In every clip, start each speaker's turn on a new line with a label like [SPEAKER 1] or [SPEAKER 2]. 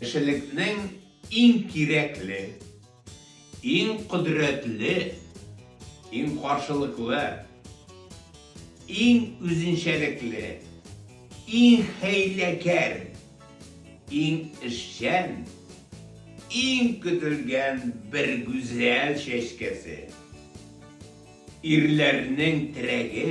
[SPEAKER 1] Кешелекнең иң кирәкле, иң кодрәтле, иң каршылыклы, иң үзенчәлекле, иң хәйләкәр, иң эшчән, иң көтелгән бер гүзәл чәчкәсе, ирләрнең терәге,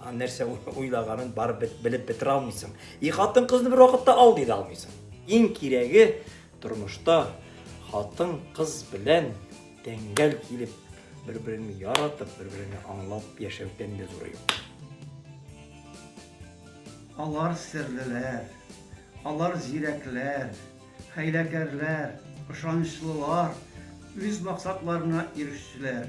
[SPEAKER 2] А нәрсә уйлаганын барып бит белеп бетерә алмыйсың. И хатын кызны бер вакытта ал диде алмыйсың. Иң кирәге тормышта хатын кыз белән тәңгәл килеп, бер-береңне яратып, бер-береңне аңлап яшәүдән дә зуры юк.
[SPEAKER 3] Алар серлеләр, алар зирәкләр, хәйләкәрләр, ышанычлылар, үз максатларына ирешүчеләр.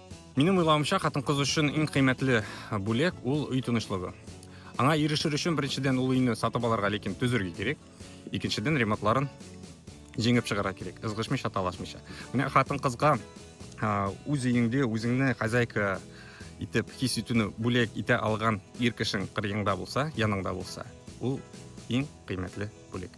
[SPEAKER 4] Минем уйлавымча, хатын-кыз өчен иң кыйммәтле бүләк ул өй тынычлыгы. Аңа ирешер өчен беренчедән ул өйне сатып алырга, ләкин төзергә кирәк. Икенчедән ремонтларын җиңеп чыгарга кирәк, ызгышмыйча, талашмыйча. Менә хатын-кызга үз өеңдә үзеңне хозяйка итеп хис итүне бүләк итә алган ир кешең кырыеңда булса, яныңда булса, ул иң кыйммәтле бүләк.